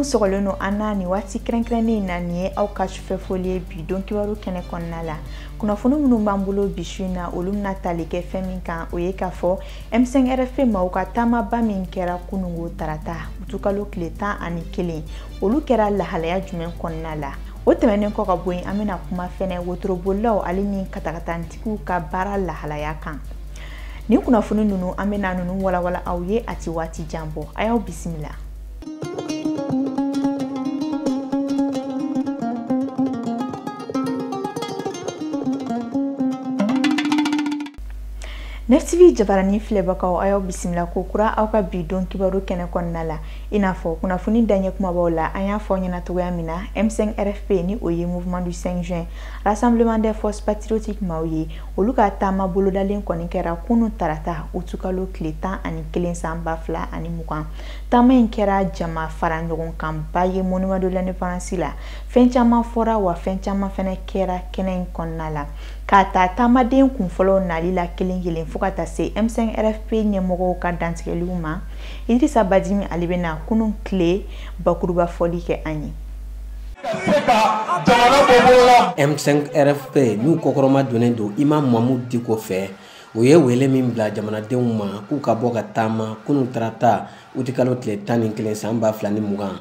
minnu sɔgɔlen don an na nin waati kɛrɛnkɛrɛnnen in na nin ye aw ka sufɛ foli ye bi don kibaru kɛnɛ kɔnɔna la kunnafoni minnu b'an bolo bi su in na olu bɛna tali kɛ fɛn min kan o ye k'a fɔ M5RFP maaw ka taamaba min kɛra kunungo tarata utukalo tile tan ani kelen olu kɛra lahalaya jumɛn kɔnɔna la o tɛmɛnen kɔ ka bɔ yen an bɛna kuma fɛnɛ wotorobolilaw ale ni katakatantigiw ka baara lahalaya kan nin kunnafoni ninnu an bɛna ninnu walawala aw ye a ti waati jan bɔ a y'aw bisimila NEF TV jabarani filɛbagaw a y'aw bisimila ko kura aw ka bi don kibaru kɛnɛ kɔnɔna la i n'a fɔ kunnafoni daɲɛ kumabaw la an y'a fɔ ɲɛna cogoya min na m5 rfp ni o ye mouvement du 5 juin rassemblement des forces patriotiques maaw ye olu ka taama bolodalen kɔni kɛra kunu tarata utukalo tile tan ani kelen san ba fila ani mugan taama in kɛra jama fara ɲɔgɔn kanba ye monument de l'indépendance la fɛn caman fɔra wa fɛn caman fɛnɛ kɛra kɛnɛ in kɔnɔna la K'a ta taamaden kunfɔlɔw nali la kelen kelen fo ka taa se m5 rfp ɲɛmɔgɔw ka dantigɛliw ma idrissa badimi ale bɛna kunun tile bakuruba fɔli kɛ an ye m5 rfp n'u kɔkɔrɔmadonnen don imam mahmoud diko fɛ u ye wele min bila jamanadenw ma k'u ka bɔ ka taama kunun tarata utikalo tile tan ni kelen san ba fila ni mugan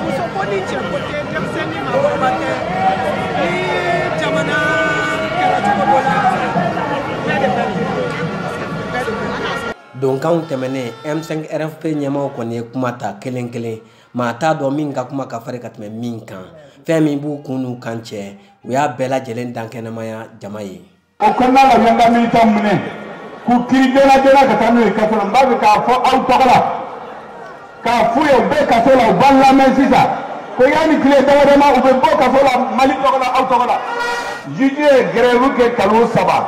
muso ko ni cɛ ko tɛ denmisɛn ni maakɔrɔba tɛ ni jamana kɛra cogo dɔ la bɛɛ de bɛ donkanw tɛmɛnen m5 rfp ɲɛmaaw kɔni ye kuma ta kelen kelen maa t'a dɔn min ka kuma ka fari ka tɛmɛ min kan fɛn min b'u kun n'u kan cɛ u y'a bɛɛ lajɛlen dankɛnɛmaya jama ye o kɔnɔna la y'an ka militant minɛ k'u kiri joona joona ka taa n'u ye kaso la n b'a fɛ k'a fɔ aw tɔgɔ la k'a f'u ye u bɛ kaso la u b'an lamɛn sisan ko yanni tile damadama u bɛ bɔ kaso la mali tɔgɔ la aw tɔgɔ la juge ye grève kɛ kalo saba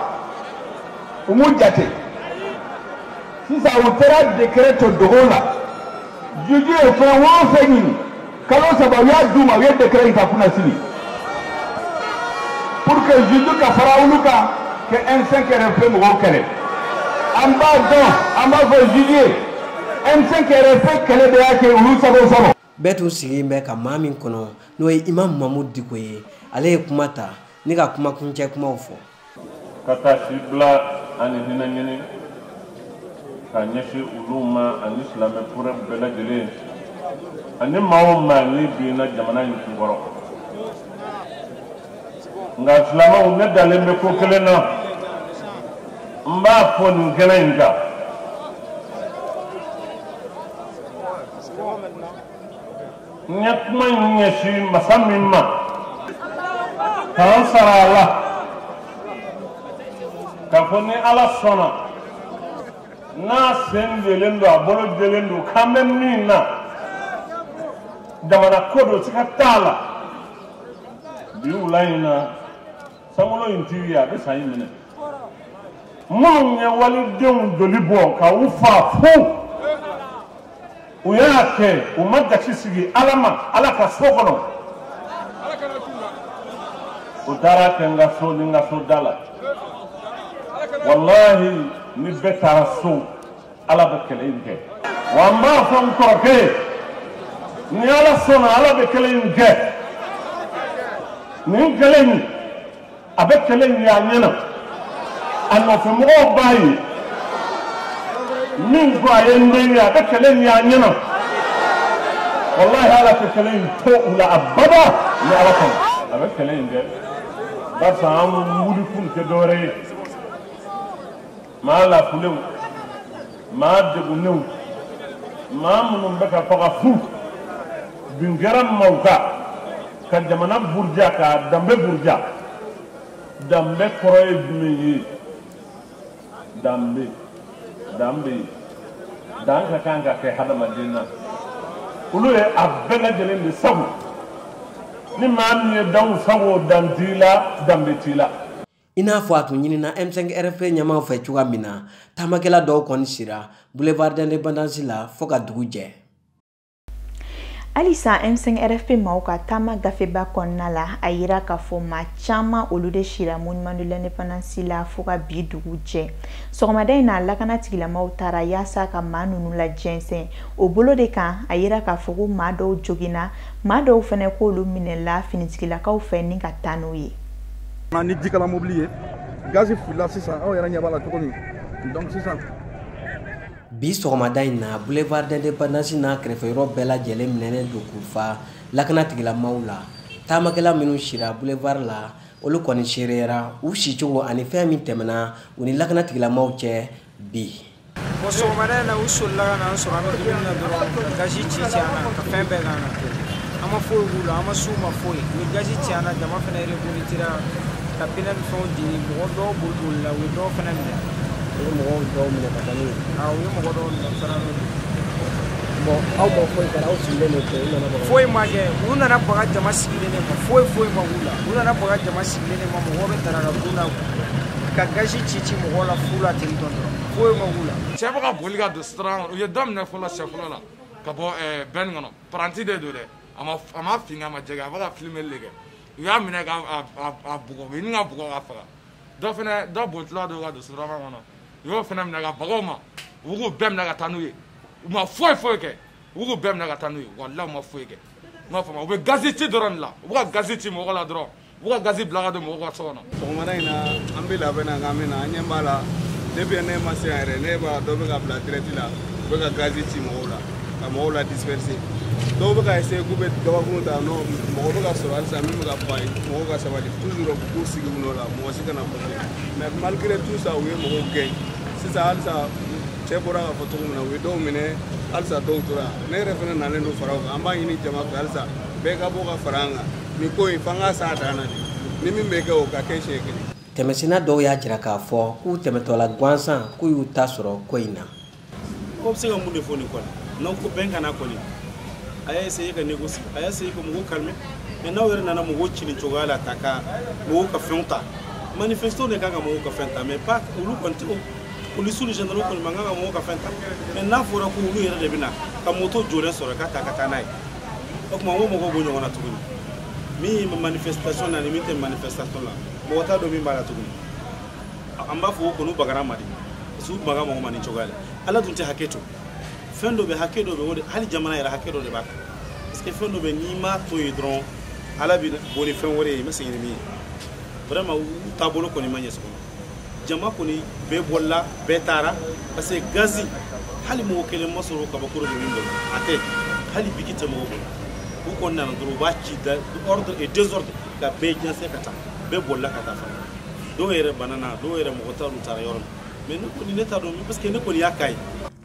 u m'u jate sisan u taara décret to dogo la juge ye fɛn o fɛn ɲini kalo saba u y'a d'u ma u ye décret in ta kunasini pour que juge ka fara olu kan ka M5 RFP mɔgɔw kɛlɛ an b'a dɔn an b'a fɔ juge ye M5 RFP kɛlɛ de y'a kɛ olu sago sɔrɔ. bɛɛ tun sigilen bɛ ka maa min kɔnɔ n'o ye imam mahmoud diko ye ale ye kuma ta ni ka kuma kuncɛ kumaw fɔ. ka taasibila ani hinɛ ɲini ka ɲɛsin olu ma ani silamɛ furɛ bɛɛ lajɛlen ani maa o maa ni binna jamana in kunkɔrɔ nka silamɛw ne dalen bɛ ko kelen na n b'a fɔ nin kɛnɛ in kan n ye kuma in ɲɛsin masa min ma k'an sara a la k'a fɔ ni ala sɔnna n'a sen jɛlen don a bolo jɛlen don k'an bɛ min na jamana ko don siga t'a la bi wula in na sankolo in tigi a bɛ san in minɛ minnu ye walidenw joli bɔ ka u faa fu u y'a kɛ u ma gasi sigi ala ma ala ka so kɔnɔ u taara kɛ n ka so ni n ka so da la walahi ni bɛɛ taara so ala bɛ kɛlɛ in kɛ wa n b'a fɔ n kɔrɔkɛ ye ni ala sɔnna ala bɛ kɛlɛ in kɛ nin kɛlɛ in a bɛ kɛlɛ in ye a ɲɛ na a nɔfɛmɔgɔw b'a ye min ko a ye n den ye a bɛ kɛlɛ in ye a ɲɛ na walahi ala tɛ kɛlɛ in to u la abada ni ala sɔnna a bɛ kɛlɛ in kɛ barisa an wuli kun tɛ dɔwɛrɛ ye maa lafulenw maa degunnenw maa minnu bɛ ka faga fu bin kɛra maaw kan ka jamana buruja ka danbe buruja danbe kɔrɔ ye jumɛn ye danbe danbe dan ka kan ka kɛ hadamaden na olu ye a bɛɛ lajɛlen de sago ni maa min ye danw sago dan t'i la danbe t'i la i n'a fɔ a tun ɲinina m5 rfp ɲɛmaaw fɛ cogoya min na taamakɛla dɔw kɔni sira boulevard d'independance la fɔɔ ka dugu jɛ halisa m5 rfp maaw ka taama gafeba kɔnɔna la a yira k'a fɔ maa caman olu de sira monument de l'independance la fɔɔ ka bi dugu jɛ sɔgɔmada in na lakana tigilamaw taara yaasa ka maa nunu lajɛnsɛn o bolo de kan a yira k'a fɔ ko maa dɔw joginna maa dɔw fɛnɛ k'olu minɛla finitigilakaw fɛ ni ka taa n'u ye ni jikalan mobili ye gazi filila sisan aw yɛrɛ ɲɛ b'a la cogo min donc sisan bi sɔgɔmada in na boulevard d'indépendance n'a kɛrɛfɛ yɔrɔ bɛɛ lajɛlen minɛnen don k'u fa lakana tigilamaw la taamakɛla minnu sira boulevard la olu kɔni seereyara u sicogo ani fɛn min tɛmɛna u ni lakana tigilamaw cɛ bi bon sɔgɔmada in na u solila ka na an sɔrɔ an bɛ dumuni na dɔrɔn gazi ci ci an na ka fɛn bɛɛ k'an na an ma foyi k'u la an ma s'u ma foyi u ye gazi ci an na jama fana revolitira ka pinɛ ni fɛnw di mɔgɔ dɔw bolibolila u ye dɔw fana minɛ u ye mɔgɔw dɔw minɛ ka taa n'u ye u ye mɔgɔ dɔw minɛ fana n'u ye bon aw ma foyi kɛ aw sigilen de u nana baga foyi ma kɛ u nana baga jama sigilen de ma foyi foyi ma k'u la u nana baga jama sigilen de ma mɔgɔ bɛ daraka dun na ka gazi ci ci mɔgɔ la fu la ten dɔrɔn foyi ma k'u la cɛ bɛ ka boli ka don sira kɔnɔ u ye dɔ minɛ fɔlɔ siɲɛ fɔlɔ la ka bɔ eh, bɛn kɔnɔ paranti de don dɛ a ma a ma fin kɛ a ma jɛ kɛ a bɛ ka filimeli de kɛ u y'a minɛ ka a bugɔ u y'a ɲini k'a bugɔ k'a faga dɔ fana dɔ bolitɔla don ka don sira kɔnɔ u y'o fana minɛ ka baga o ma u k'u bɛɛ minɛ ka taa n'u ye u ma foyi foyi kɛ u k'u bɛɛ minɛ ka taa n'u ye walahi u ma foyi kɛ n m'a faamuya u bɛ gazi ci dɔrɔn de la u bɛ ka gazi ci mɔgɔ la dɔrɔn u ka gazi bila ka don mɔgɔw ka so kɔnɔ sɔgɔmada in na an bɛ labɛn na nka min na an ɲɛ b'a la depuis ne ma se yan yɛrɛ ne b'a dɔ bɛ ka bila dirɛti la u bɛ ka gazi ci mɔgɔw la ka mɔgɔw la disperser dɔw bɛ ka essayer k'u bɛ gabakuru ta nɔ mɔgɔ bɛ ka sɔrɔ halisa min bɛ ka fɔ a ye mɔgɔw ka sabali toujours k'u sigi u nɔ la mɔgɔ si kana fɔte mais malgré tout ça u ye mɔgɔw gɛn sisan halisa cɛ bɔra k'a fɔ cogo min na u ye dɔw minɛ halisa dɔw tora ne yɛrɛ fana nalen don fara u kan an b'a ɲini jama fɛ halisa bɛɛ ka bɔ ka fara an kan nin ko in fana ka s'a dan na ni min bɛ kɛ o ka kɛ siɲɛ kelen tɛmɛsina dɔw y'a jira k'a fɔ k'u tɛmɛtɔla gansan k'u y'u ta sɔrɔ ko in na ko bɛ se ka mun de fɔ nin kɔni n'aw ko bɛ ka na kɔni a y'a essayer ka négocier a y'a essayer ka mɔgɔw calmer mais n'aw yɛrɛ nana mɔgɔw ci nin cogoya la ta ka mɔgɔw ka fɛnw ta manifestants de kan ka mɔgɔw ka fɛn ta mais pas olu kɔni tɛ polisi ni gendarme kɔni man kan ka mɔgɔw ka fɛn ta mais n'a fɔra ko olu yɛrɛ de bɛ na ka moto jɔlen sɔrɔ k'a ta ka taa n'a ye o tuma ko mɔgɔw bɔ ɲɔgɔn na tuguni min bɛ manifestation na ni min tɛ manifestation la mɔgɔ t'a dɔn min b'a la tuguni an b'a fɔ k'u kɔni bagara an ma dɛ parce que u baga mɔgɔ ma nin cogoya la ala dun tɛ hakɛ to fɛn dɔ bɛ hakɛ dɔ bɛ o de hali jamana yɛrɛ hakɛ dɔ de b'a kan parce que fɛn dɔ bɛ n'i m'a to yen dɔrɔn ala bɛ bɔ ni fɛn wɛrɛ ye i ma sigi ni min ye vraiment u taabolo kɔni ma ɲɛ sɔgɔma jama kɔni bɛɛ bolila bɛɛ taara parce que gazi hali mɔgɔ kelen ma sɔrɔ kabakuru de min bolo a tɛ hali biki tɛ mɔgɔ bolo u kɔni nana dɔrɔn u b'a ci da ordre et désordre ka bɛɛ jɛnsɛn ka taa bɛɛ bolila ka taa fana dɔw yɛrɛ banana dɔw yɛrɛ mɔgɔ t'a dɔn u taara yɔrɔ min mais ne kɔni ne t'a dɔn parce que ne kɔni y'a k'a ye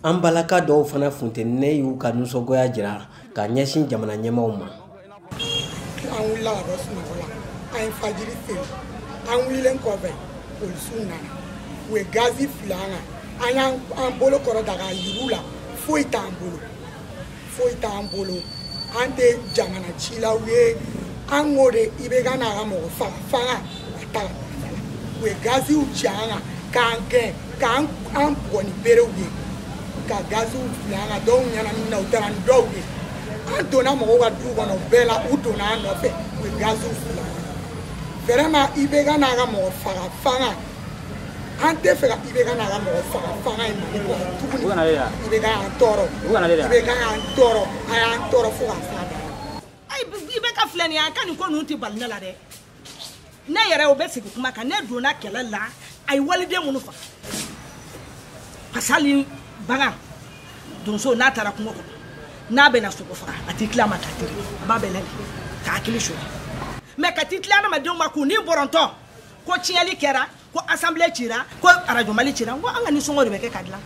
an balaka dɔw fana funtinen y'u ka nisɔngoya jira ka ɲɛsin jamana ɲɛmaaw ma an wulila ka bɔ sunɔgɔ la an ye fajiri seli an wulilen kɔfɛ polisiw nana u ye gazi fili an kan an y'an bolo kɔrɔta k'a yira u la foyi t'an bolo foyi t'an bolo an tɛ jamana cilaw ye an k'o de i bɛ ka na ka mɔgɔ faga fanga a ta ka u ye gaziw ci an kan k'an gɛn k'an an bugɔ ni berew ye ka gaziw fili an kan dɔw ɲɛnaminina u taara ni dɔw ye an donna mɔgɔw ka du kɔnɔ bɛɛ la u donna an nɔfɛ u ye gaziw fili an kan vraiment IBK n'a ka mɔgɔ faga fanga an t'a fɛ ka IBK n'a ka mɔgɔ faga fanga ye mali kɔnɔ tuguni IBK y'an tɔɔrɔ IBK y'an tɔɔrɔ a y'an tɔɔrɔ fo ka f'a da IBK filɛ nin ye an ka nin ko ninnu tɛ bali ne la dɛ ne yɛrɛ o bɛ sigi kuma kan ne donna kɛlɛ la a ye waliden minnu faga parce que hali bagan donso n'a taara kungo kɔnɔ n'a bɛna sogo faga a t'i tilen a ma k'a tire a b'a bɛlɛn de k'a hakili sonya mais ka t'i tilen adamadenw ma k'u ni bɔrɔntɔ ko tiɲɛli kɛra ko assemblée cira ko radio mali cira ko an ka nisɔngɔ de bɛ kɛ k'a dilan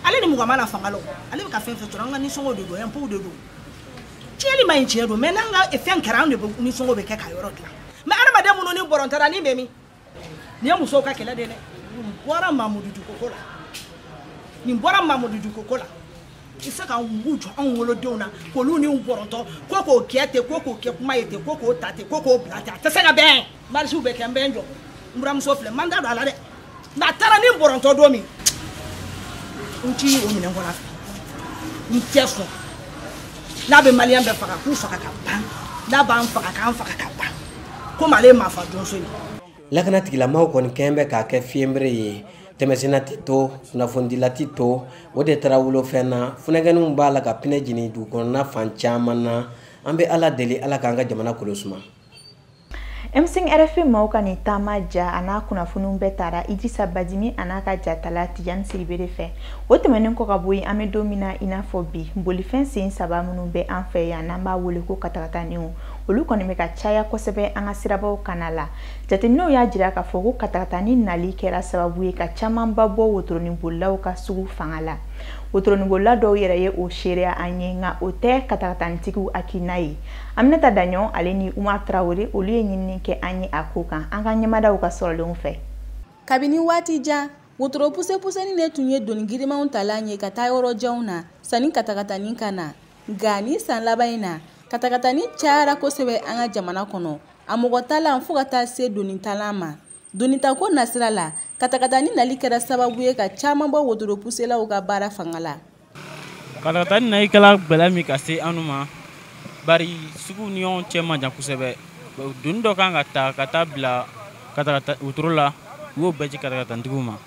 ale ni mugan ma na fanga la ale bɛ ka fɛn fɛn sɔrɔ an ka nisɔngɔ de don impôt de don tiɲɛli man ɲi tiɲɛ don mais n'an ka fɛn kɛra anw de nisɔngɔ bɛ kɛ ka yɔrɔ dilan mais adamaden minnu ni bɔrɔntɔra ni bɛ min nin ye musow ka kɛlɛ de dɛ nin bɔra mamudu diko ko la nin bɔra mamudu diko ko la i se ka mugu jɔ anw wolodenw na k'olu ni bɔrɔntɔ ko k'o kɛ ten ko k'o kɛ kuma ye ten ko k'o ta ten ko k'o bila ten a tɛ se ka bɛn marisiw bɛ kɛ n bɛ n jɔ n buramuso filɛ n ma n da don a la dɛ nka a taara ni bɔrɔntɔ don min n ti o minɛ n kɔnɔ a fɛ n tɛ sɔn n'a bɛ maliyɛn bɛɛ faga k'u faga ka ban n'a b'an faga k'an faga ka ban komi ale ye maafa donso ye lakana tigilamaaw kɔni kɛn bɛ k'a kɛ fiyenbere ye tɛmɛsenna tɛ to kunnafonidila tɛ to o de taara wolofɛn na funakɛninw b'a la ka pinɛ jeni dugukɔnɔna fan caman na an bɛ ala deli ala k'an ka jamana kolosuma M5 RFP maaw ka nin taama ja a n'a kunnafoniw bɛɛ tara Idrissa Badimi a n'a ka jatala Tijani Sidibe de fɛ. O tɛmɛnen kɔ ka bɔ yen, an bɛ don min na i n'a fɔ bi, bolifɛn sen saba minnu bɛ an fɛ yan n'an b'a wele ko katakataniw, olu kɔni bɛ ka caya kosɛbɛ an ka sirabaw kanna la. Jateminɛw y'a jira k'a fɔ ko katakatani nali kɛra sababu ye ka camanba bɔ wotoronibolilaw ka sugu fanga la. Wotoronibolila dɔw yɛrɛ ye o seereya an ye, nka o tɛ katakatanitigiw hakilina ye. Aminata Daɲɔn ale ni Umar Traore olu ye ɲinini kɛ an ye a ko kan an k'an ɲɛmada u ka sɔrɔlenw fɛ. Kabini waati jan, wotoro pusepuseni de tun ye doni girimanw talan ye ka taa yɔrɔ janw na sani katakatani ka na. Nka nin san laban in na, katakatani cayara kosɛbɛ an ka jamana kɔnɔ, a mɔgɔ talan fo ka taa se doni talan ma. Donitako nasira la, katakatani nali kɛra sababu ye ka caman bɔ wotoropuselaw ka baara fanga la. Katakatani nali kɛra gɛlɛya min ka se anw ma, bari suguw ni ɲɔgɔn cɛ man jan kosɛbɛ. Doni dɔ kan ka ta ka taa bila katakata wotoro la, u y'o bɛɛ ci katakatanitigiw ma.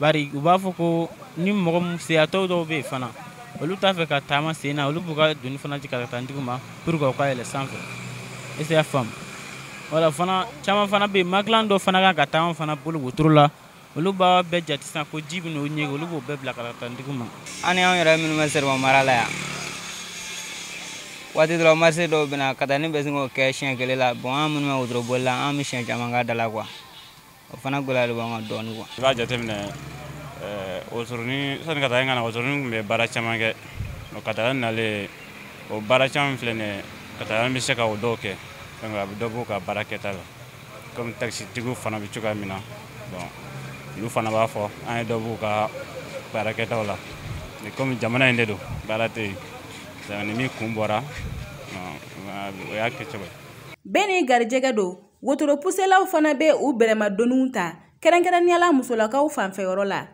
bari u b'a fɔ ko ni mɔgɔ min seyatɔw dɔw bɛ yen fana olu t'a fɛ ka taama sen na olu b'u ka doni fana jigin katanitigiw ma pour que u ka yɛlɛ sanfɛ est ce que y'a faamu wala fana caman fana bɛ yen magilan dɔ fana kan ka taa an fana bolo wotoro la olu b'a bɛɛ jate sisan ko ji bɛ n'o ɲɛge olu b'o bɛɛ bila katanitigiw ma an ni anw yɛrɛ minnu bɛ sɛrɛma mara la yan waati dɔrɔn marché dɔw bɛ na katani bɛ se k'o kɛ siɲɛ kelen la bon an minnu bɛ wotoro boli la an bɛ siɲɛ caman k'a da la quoi o fana gɛlɛya de b'an kan dɔɔni quoi i b'a jateminɛ eh, wotoronin sani katani ka na wotoronin tun bɛ baara caman kɛ katani nalen o baara caman filɛ nin ye katani bɛ se ka o dɔw kɛ a bɛ dɔ b'o ka baara kɛta la komi takisitigiw fana bɛ cogoya min na bon olu fana b'a fɔ an ye dɔ b'u ka baara kɛtaw la komi jamana in de don baara tɛ yen ni min kun bɔra o y'a kɛ cogo ye bɛɛ n'i garijɛgɛ don Wotoro puselaw fana bɛ u bɛrɛma doniw ta kɛrɛnkɛrɛnniyala musolakaw fanfɛyɔrɔ la.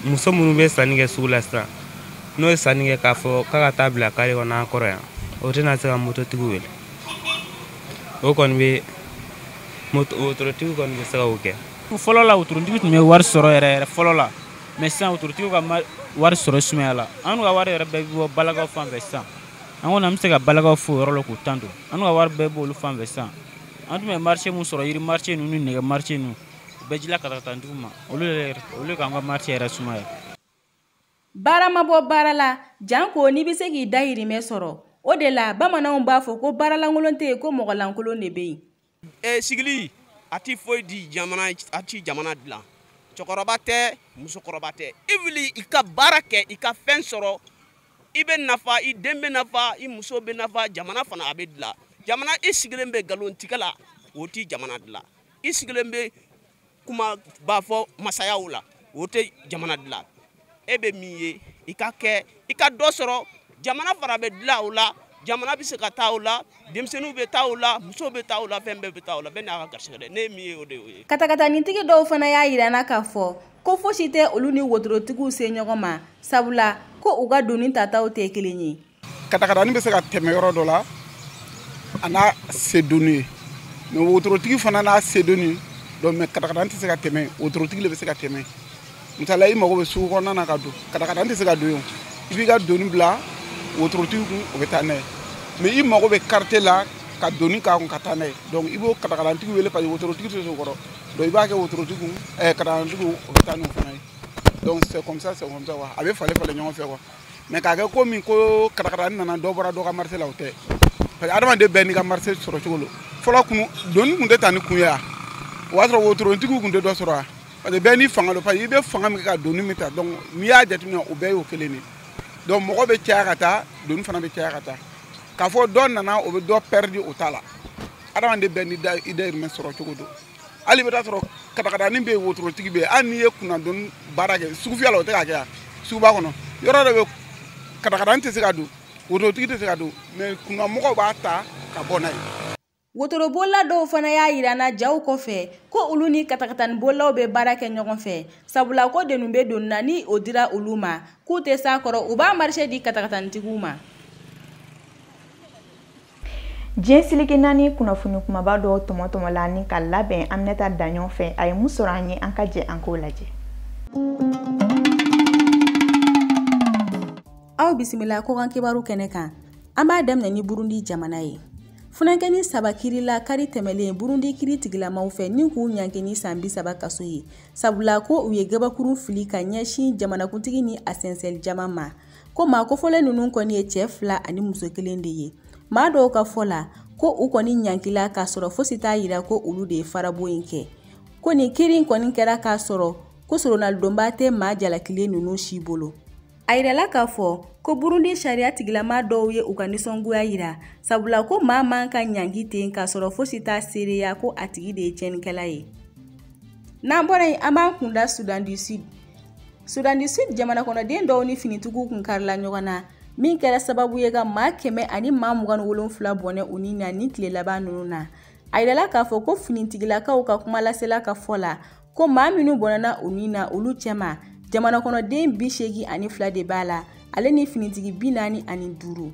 Muso minnu bɛ sanni kɛ sugu la sisan, n'o ye sanni kɛ k'a fɔ k'a ka taa bila kare kɔnɔ an kɔrɔ yan, o tɛna se ka mototigiw wele. O kɔni bɛ moto wotorotigiw kɔni bɛ se ka o kɛ. Fɔlɔ la wotorotigi tun bɛ wari sɔrɔ yɛrɛ yɛrɛ fɔlɔ la, mais sisan wotorotigiw ka wari sɔrɔ sumayala. An ka wari yɛrɛ bɛɛ bɛ bɔ balakaw fan fɛ sisan. An kɔni an bɛ se ka balakaw fo o yɔrɔ la k'u tando. An ka wari bɛɛ b'olu fan fɛ sisan. an tun bɛ marché min sɔrɔ yiri marché ninnu ni nɛgɛ marché ninnu u bɛɛ dila katakatanitigiw ma olu yɛrɛ olu k'an ka marché yɛrɛ sumaya baara ma bɔ baara la janko n'i bɛ se k'i dayirimɛ sɔrɔ o de la bamananw b'a fɔ ko baaralankolon tɛ yen ko mɔgɔlankolon de bɛ yen ɛ sigili a ti foyi di jamana a ti jamana dilan cɛkɔrɔba tɛ musokɔrɔba tɛ i wuli i ka baara kɛ i ka fɛn sɔrɔ i bɛ nafa i den bɛ nafa i muso bɛ nafa jamana fana a bɛ dilan jamana i sigilen bɛ nkalontigɛ la o tɛ jamana dilan i sigilen bɛ kumaba fɔ masayaw la o tɛ jamana dilan e bɛ min ye i ka kɛ i ka dɔ sɔrɔ jamana fana bɛ dilan o la jamana bɛ se ka taa o la denmisɛnninw bɛ taa o la muso bɛ taa o la fɛn bɛɛ bɛ taa o la bɛɛ n'a ka garisɛgɛ dɛ ne ye min ye o de y'o ye katakatanitigi dɔw fana y'a yira na k'a fɔ ko fosi tɛ olu ni wotorotigiw se ɲɔgɔn ma sabula ko u ka doni tataw tɛ kelen ye katakatani bɛ se ka tɛmɛ yɔrɔ dɔ la a n'a se doni ye mais wotorotigi fana n'a se doni don mais katakatani tɛ se ka tɛmɛ wotorotigi le bɛ se ka tɛmɛ misala i mago bɛ sugu kɔnɔna na ka don katakatani tɛ se ka don yen i b'i ka doni bila wotorotigi kun o bɛ taa n'a ye mais i mago bɛ quartier la ka doni k'a kun ka taa n'a ye donc i b'o katakatanitigi wele parce que wotorotigi tɛ se o kɔrɔ donc i b'a kɛ wotorotigi kun ɛɛ eh, katakatanitigi o bɛ taa n'o fana ye donc c'est comme ça c'est comme ça quoi a bɛ falen falen ɲɔgɔn fɛ quoi mais k'a kɛ komi ko katakatani nana dɔ bɔra dɔ ka marché la o tɛ parce que adamaden bɛɛ n'i ka marché sɔrɔ cogo lo fɔlɔ kun doni kun tɛ ta ni kun ye a o b'a sɔrɔ wotorotigi kun tɛ dɔ sɔrɔ a parce que bɛɛ n'i fanga don parce que i bɛ fanga min kɛ ka doni min ta donc n'i y'a jateminɛ o bɛɛ y'o kelen de donc mɔgɔ bɛ caya ka taa doni fana bɛ caya ka taa k'a fɔ dɔ nana o bɛ dɔ pɛridi o t'a la adamaden bɛɛ ni i dayirimɛ sɔrɔ cogo don hali i bɛ taa sɔrɔ katakatani bɛ yen wotorotigi bɛ yen hali n'i ye kunnadoni baara kɛ sugufiyɛ la o tɛ ka kɛ yan suguba kɔnɔ yɔrɔ dɔ bɛ katakatani tɛ se ka don wotorotigi tɛ se ka don mais kunnamɔgɔw b'a ta ka bɔ n'a ye wotorobolila dɔw fana y'a yira an na jaw kɔfɛ ko olu ni katakatani bolilaw bɛ baara kɛ ɲɔgɔn fɛ sabula ko doni bɛ doni na ni o dira olu ma k'u tɛ s'a kɔrɔ u b'a marché di katakatanitigiw ma diɲɛ seleke naani kunnafoni kumaba dɔw tɔmɔtɔmɔla ni ka labɛn aminata daɲɔn fɛ a ye mun sɔrɔ an ye an ka jɛ an k'o lajɛ aw bisimila kɔkan kibaru kɛnɛ kan an b'a daminɛ ni burundi jamana ye funankɛni saba kirila kari tɛmɛlen burundi kiri tigilamaw fɛ ni k'u ɲangi ni san bi saba kaso ye sabula ko u ye gabakurun fili ka ɲɛsin jamanakuntigi ni a sɛnsɛli jama ma ko maa kofɔlen ninnu kɔni ye cɛ fila ani muso kelen de ye maa dɔw ka fɔ la ko u kɔni ɲankila k'a sɔrɔ fosi t'a yira ko olu de ye farabon in kɛ ko nin kiri kɔni kɛra k'a sɔrɔ ko soronnalidonba tɛ maa jalakilen ninnu si bolo A yirala k'a fɔ ko Burundi sariya tigilama dɔw ye u ka nisɔngoya yira sabula ko maa man ka ɲangi ten k'a sɔrɔ fosi t'a seereya ko a tigi de ye tiɲɛnikɛla ye n'an bɔra yen an b'an kun da Sudan du Sud Sudan du Sud jamanakɔnɔden dɔw ni finitigiw kun karila ɲɔgɔn na min kɛra sababu ye ka maa kɛmɛ ani maa mugan ni wolonfila bɔnɛ u ni na nin tile laban ninnu na a yirala k'a fɔ ko finitigilakaw ka kumalasela ka fɔ la ko maa minnu bɔnɛna u ni na olu cɛma jamana kɔnɔden bi seegi ani fila de b'a la ale ni finitigi bi naani ani duuru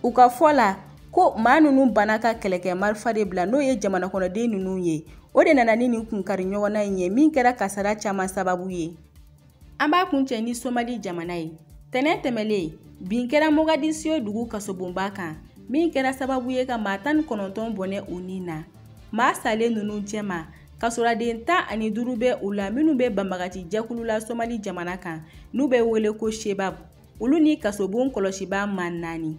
u ka fɔ la ko maa ninnu banna ka kɛlɛkɛ marifa de bila n'o ye jamana kɔnɔden ninnu ye o de nana ni nin kunkari ɲɔgɔnna in ye min kɛra kasara caman sababu ye an b'a kuncɛ ni somali jamana ye tɛnɛ tɛmɛlen bin kɛra mogadisiyo dugu kasobonba kan min kɛra sababu ye ka maa tan ni kɔnɔntɔn bɔnɛ u ni na maa salen ninnu cɛma kasoladen tan ani duuru bɛ u la minnu bɛ banbagaci jɛkulu la somali jamana kan n'u bɛ wele ko shebab olu ni kasobon kɔlɔsibaa maa naani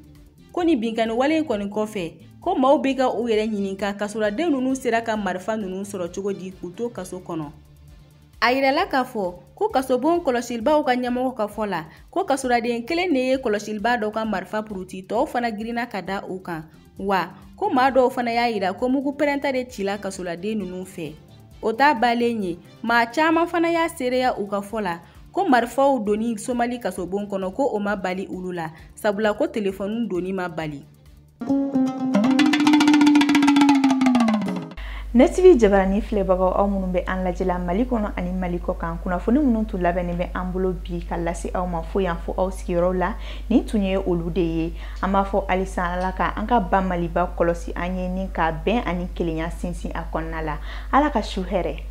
ko nin binkanni wale in kɔni kɔfɛ ko maaw bɛ ka u yɛrɛ ɲininka kasoladen ninnu sera ka marifa ninnu sɔrɔ cogo di k'u to kaso kɔnɔ A yirala k'a fɔ ko kasobon kɔlɔsilibaaw ka ɲɛmɔgɔ ka fɔ la ko kasoladen kelen de ye kɔlɔsilibaa dɔ ka marifa puruti tɔw fana girinna ka da u kan wa ko maa dɔw fana y'a yira ko mugu pɛrɛnta de cila kasoladen ninnu fɛ o t'a balen ye maa caman fana y'a seereya u ka fɔ la ko marifaw donni somali kasobon kɔnɔ ko o ma bali olu la sabula ko telefɔni donni ma bali ne tv jabarani filɛbagaw aw minnu bɛ an lajɛla mali kɔnɔ ani mali kɔ kan kunnafoni minnu tun labɛnnen bɛ an bolo bi ka lase aw ma fo yan fo aw sigiyɔrɔw la nin tun ye olu de ye an b'a fɔ halisa ala ka an ka ba maliba kɔlɔsi an ye ni ka bɛn ani kelenya sinsin a kɔnɔna la ala ka su hɛrɛ